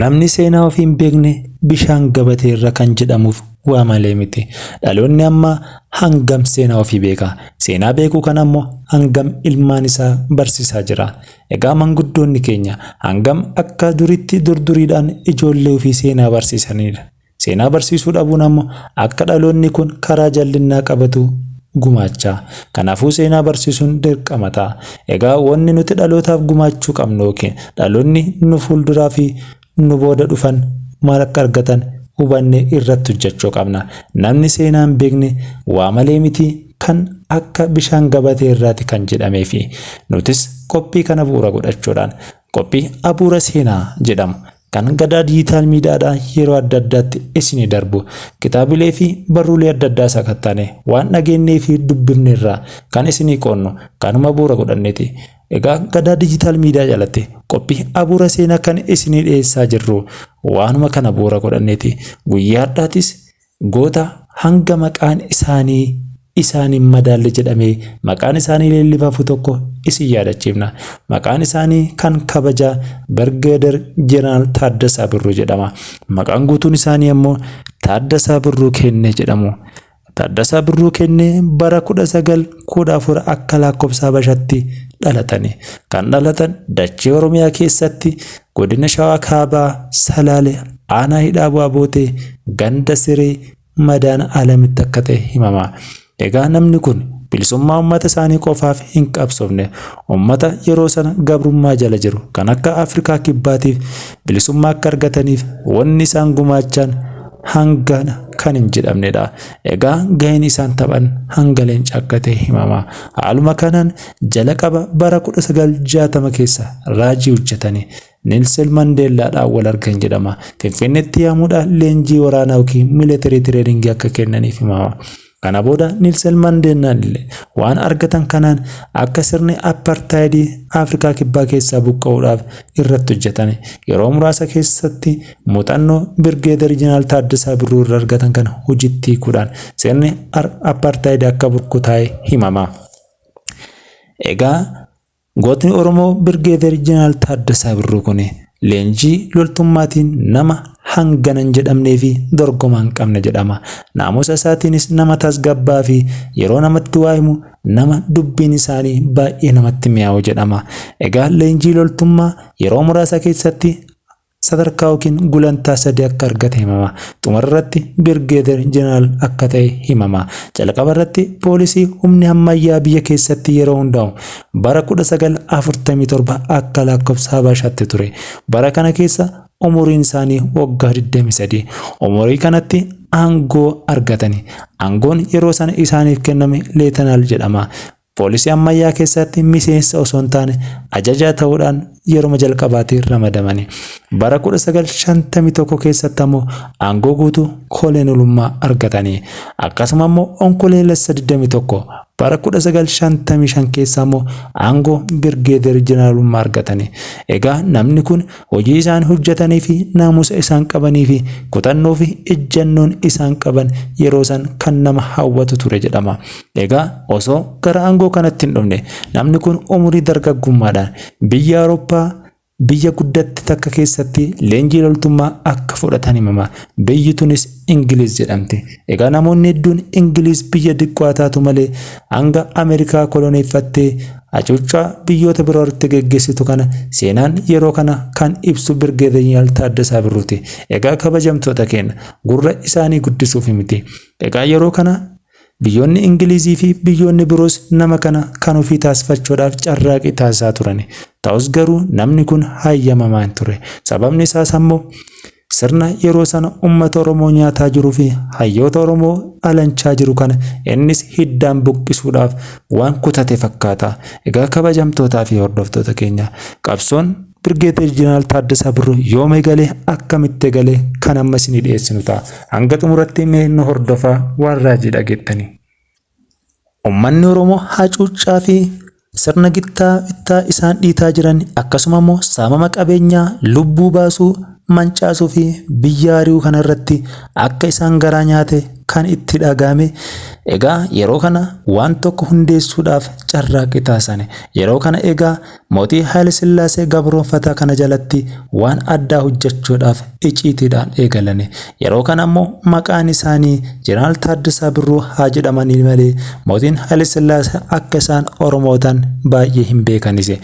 Namni seenaa ofii hin beekne bishaan gabatee irra kan jedhamuuf waa malee miti. Dhaloonni ammaa hangam seenaa ofii beeka? Seenaa beekuu kana immoo hangam ilmaan isaa barsiisaa jira? Egaa manguddoonni keenya hangam akka duritti durduriidhaan ijoollee ofii seenaa barsiisaniidha? Seenaa barsiisuu dhabuun ammo akka dhaloonni kun karaa jallinnaa qabatu gumaacha. Kanaafuu seenaa barsiisuun dirqama ta'a. Egaa wanni nuti dhalootaaf gumaachuu qabnu ykn dhaloonni nu fuulduraa fi nu booda dhufan maal akka argatan hubannee irratti hojjachuu qabna. Namni seenaa hin beekne waa malee miti kan akka bishaan gabatee irraati kan jedhameefi. Nutis qophii kana bu'uura godhachuudhaan Qophii Abuura Seenaa jedhamu kan Gadaa Dijiitaal Miidiyaadhaan yeroo adda addaatti isinii darbu kitaabilee fi barruulee adda addaa sakattaane waan dhageennee fi dubbifne irraa kan isinii qoodnu kanuma bu'uura godhanneeti. Egaa Gadaa Dijiitaal Miidiyaa jalatti qophii Abuura Seenaa kan isinii dhiyeessaa jirru waanuma kana bu'uura godhanneeti. Guyyaa har'aatis goota hanga maqaan isaanii isaan hin madaalle jedhamee maqaan isaanii leellifafu tokko isin yaadachiifna. Maqaan isaanii kan kabajaa Birgeeder Jeneraal Taaddasaa Birruu jedhama. Maqaan guutuun isaanii ammoo Taaddasaa Birruu Kennee jedhamu. Taaddasaa Birruu Kennee bara 1914 akka lakkoofsa Habashatti dhalatani. Kan dhalatan dachee Oromiyaa keessatti Godina Shawaa Kaabaa Salaale aanaa Hidhaa Bu'aa Bootee ganda Siree madaan alamitti akka ta'e himama. Egaa namni kun bilisummaa ummata isaanii qofaaf hin qabsoofne. Ummata yeroo sana gabrummaa jala jiru kan akka Afrikaa Kibbaatiif bilisummaa akka argataniif wanni isaan gumaachaan hangana kan hin jedhamnedha. Egaa gaheen isaan taphan hanga leenca akka ta'e himama. Haaluma kanaan Jalaqaba bara 1960 keessa raajii hojjetani Nelson Mandeellaadhaan wal argan jedhama. Finfinneetti yaamuudhaan leenjii waraanaa yookiin miilitarii tireeningii akka kennaniif himama. Kana booda Nelson Mandeellaan illee waan argatan kanaan akka sirni appartaayidii Afrikaa Kibbaa keessaa buqqa'uudhaaf irratti hojjetani. Yeroo muraasa keessatti muuxannoo Birgeedar Jeneraal Taaddasaa Birruu irra argatan kana hojiitti hiikuudhaan sirni appartaayidii akka burkutaa'e himama. Egaa gootni Oromoo Birgeeder Jeneraal Taaddasaa Birruu kun leenjii loltummaatiin nama hangana hin jedhamnee fi dorgomaa hin qabne jedhama. Naamusa isaatiinis nama tasgabbaa'aa fi yeroo namatti waa himu nama dubbiin isaanii baay'ee namatti mi'aawu jedhama. Egaa leenjii loltummaa yeroo muraasa keessatti sadarkaa yookiin gulantaa sadii akka argate himama. Xumura irratti Birgeeder Jeneraal akka ta'e himama. Jalqaba irratti poolisii humni hammayyaa biyya keessatti yeroo hundaa'u bara 1947 akka laakkofsa Habashaatti ture. Bara kana keessa umuriin isaanii waggaa 23. Umurii kanatti aangoo argatani. Aangoon yeroo sana isaaniif kenname Leetanaal jedhama. Poolisii ammayyaa keessaatti miseensa osoo hin taane ajajaa ta'uudhaan yeruma jalqabaatii ramadamani. Bara 1951 keessatti ammoo aangoo guutuu koleenelummaa argatani. Akkasuma ammoo Onkoleelessa 21 bara 1955 keessa ammoo aangoo Birgeeder Jeneraalummaa argatani. Egaa namni kun Hojii isaan hojjatanii fi naamusa isaan qabanii fi kutannoo fi ejjannoon isaan qaban yeroo san kan nama hawwatu ture jedhama. Egaa osoo gara aangoo kanatti hin dhufne namni kun umurii dargaggummaadhaan biyya Awurooppaa biyya guddatte takka keessatti leenjii loltummaa akka fudhatan himama. Biyyi tunis Ingiliiz jedhamti. Egaa namoonni hedduun Ingiliiz biyya diqqoa taatu malee hanga Ameerikaa koloneeffattee Hacuuccaa biyyoota biroo irratti geggeessitu kana seenaan yeroo kana kan ibsu Birgeedanyal Taaddasaa Birruuti. Egaa kabajamtoota keenya, gurra isaanii guddisuuf miti. Egaa yeroo kana biyyoonni Ingilizii fi biyyoonni biroos nama kana kan ofii taasifachuudhaaf carraaqii taasisaa turani. Ta'us garuu namni kun hayyamamaa hin turre. Sababni isaas ammoo. Sirna yeroo sana ummata Oromoo nyaataa jiruu fi hayyoota Oromoo alanchaa jiru kana innis hiddaan buqqisuudhaaf waan kutate fakkaata. Egaa kabajamtootaa fi hordoftoota keenya, qabsoon Birgeedeer Jeneraal Taaddasaa Birruu yoom eegale, akkamitti eegale kan amma isinii dhiyeessinu ta'a. Hanga xumuratti mee nu hordofaa waan raajii dhageettanii. Ummanni Oromoo hacuuccaa fi sirna gittaa bittaa isaan dhiitaa jiran akkasuma immoo saamama qabeenyaa lubbuu baasuu, mancaasuu fi biyya ari'uu kana irratti akka isaan garaa nyaate kan itti dhaga'ame egaa yeroo kana waan tokko hundeessuudhaaf carraaqqii taasisani. Yeroo kana egaa Mootii Haayile Sillaasee gabroomfataa kana jalatti waan addaa hojjechuudhaaf iciitiidhaan eegalani. Yeroo kana ammoo maqaan isaanii Jeneraal Taaddasaa Birruu haa jedhamanii malee mootiin Haayile Sillaasee akka isaan Oromoo ta'an baay'ee hin beekanisi.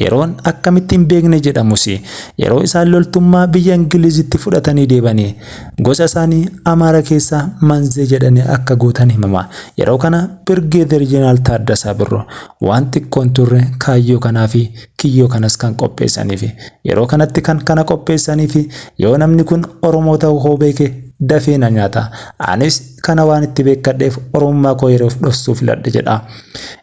Yeroon akkamitti hin beekne jedhamusi. Yeroo isaan loltummaa biyya Ingiliizitti fudhatanii deebani. Gosa isaanii Amaara keessaa Manzee jedhanii akka guutan himama. Yeroo kana Birgeeder Jeneraal Taaddasaa Birruu Waan xiqqoo hin turre kaayyoo kanaa fi kiyyoo kanas kan qopheessaniifi. Yeroo kanatti kan kana qopheessaniifi yoo namni kun Oromoo ta'uu koo beeke dafee na nyaata. Anis kana waan itti beekkadheef Oromummaa koo yeroof dhoksuu filadhe jedha.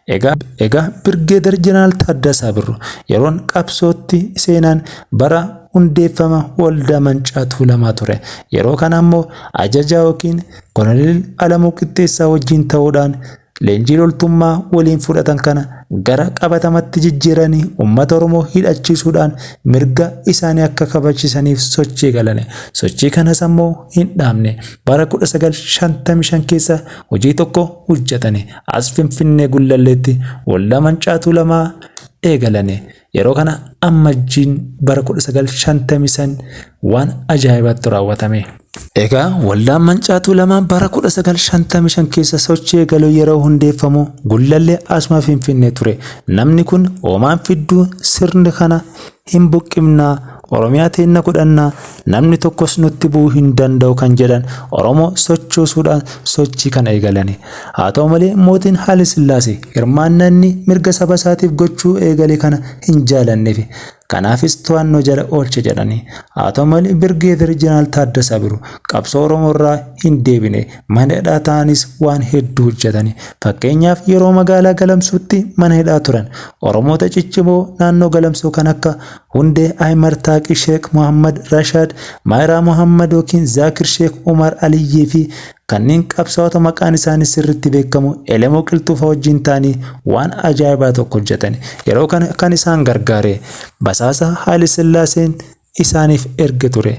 Egaa. Egaa Birgeedar Jeneraal Taaddasaa Birruu yeroon qabsootti seenaan bara hundeeffama Waldaa Mancaa Tuulamaa ture. Yeroo kana ammoo Ajajaa ykn Koloneel Alamuu Qixxeessaa wajjin ta'uudhaan Leenjii loltummaa waliin fudhatan kana gara qabatamatti jijjiiranii ummata Oromoo hidhachiisuudhaan mirga isaanii akka kabachisaniif sochii eegalani. Sochii kanas ammoo hin dhaabne. Bara 1955 keessa hojii tokko hojjatani. As Finfinnee Gullalleetti Waldaa Mancaatuu Lamaa eegalani. Yeroo kana ammajjiin bara 1955 waan ajaa'ibaattu raawwatame. Egaa waldaan mancaatuu lamaa bara 1955 keessa sochii eegaluu yeroo hundeeffamu gullallee asuma finfinnee ture. Namni kun hoomaan fidduu sirni kana hin buqqifnaa Oromiyaa teenna godhanna, namni tokkos nutti bu'uu hin danda'u kan jedhan Oromoo sochoosuudhaan sochii kana eegalani. Haa ta'u malee mootiin Haile Sillaasee hirmaannaa inni mirga saba isaatiif gochuu eegale kana hin jaalanneefi. Kanaafis to'annoo jala oolche jedhani. Haa ta'u malee Birgeeder Jeneraal Taaddasaa Birruu qabsoo Oromoo irraa hin deebine. Mana hidhaa taa'aniis waan hedduu hojjetani. Fakkeenyaaf yeroo magaalaa Galamsootti mana hidhaa turan Oromoota ciccimoo naannoo Galamsoo kan akka Hunde Aymer Taaqi Sheek Muhammad Rashaad, Maayiraa Muhammad ykn Zaakir Sheek Umar Aliyyii fi kanneen qabsaa'ota maqaan isaanii sirriitti beekamu Elemoo Qilxuufaa wajjin ta'anii waan ajaa'ibaa tokko hojjetan. Yeroo kana kan isaan gargaare basaasa Haayile Sillaaseen isaaniif erge ture.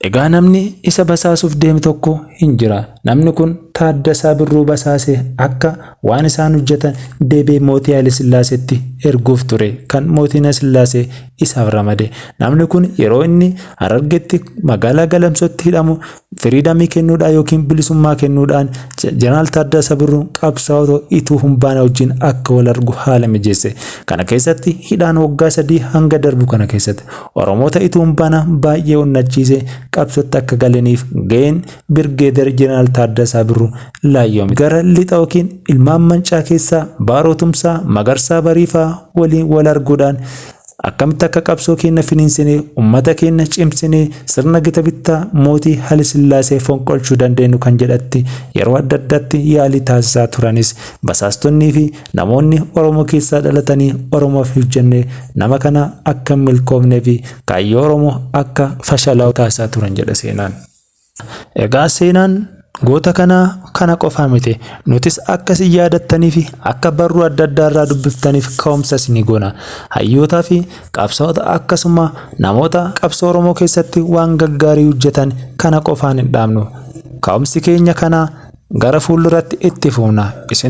Egaa namni isa basaasuuf deeme tokko hin jira. Namni kun Taaddasaa Birruu basaasee akka waan isaan hojjetan deebi'ee mootii Hayilesillaaseetti erguuf ture kan mootiin Hayilesillaasee isaaf ramade. Namni kun yeroo inni Harargetti magaalaa Galamsootti hidhamu firiidamii kennuudhaan yookiin bilisummaa kennuudhaan Jeneraal Taaddasaa Birruun qabsaa'ota Ituu Humbaanaa wajjin akka wal argu haala mijeesse. Kana keessatti hidhaan waggaa sadii hanga darbu kana keessatti Oromoota ituun bana baay'ee onnachiise qabsotti akka galaniif ga'een Birgeeder Jeneraal Taaddasaa Birru laayyoome. Gara lixa yookiin ilmaan mancaa keessaa Baaroo Tumsaa, Magarsaa Bariifaa waliin wal arguudhaan akkamitti akka qabsoo keenna finiinsinee ummata keenna cimsinee sirna gita bittaa mootii Haile Sillaasee fonqolchuu dandeenyu kan jedhatti yeroo adda addatti yaalii taasisaa turanis basaastonnii fi Namoonni Oromoo keessaa dhalatanii Oromoof hojjenne nama kana akka hin milkoomnee fi kaayyoo Oromoo akka fashalaa'u taasisaa turan jedha seenaan. Egaa seenaan goota kanaa kana qofaa miti. Nutis akka isin yaadattanii fi akka barruu adda addaa irraa dubbiftaniif ka'umsa isinii goona. Hayyootaa fi qabsaa'ota akkasuma namoota qabsoo Oromoo keessatti waan gaggaarii hojjetan kana qofaan hin dhaabnu. Ka'umsi keenya kanaa gara fuulduratti itti fufna. Isin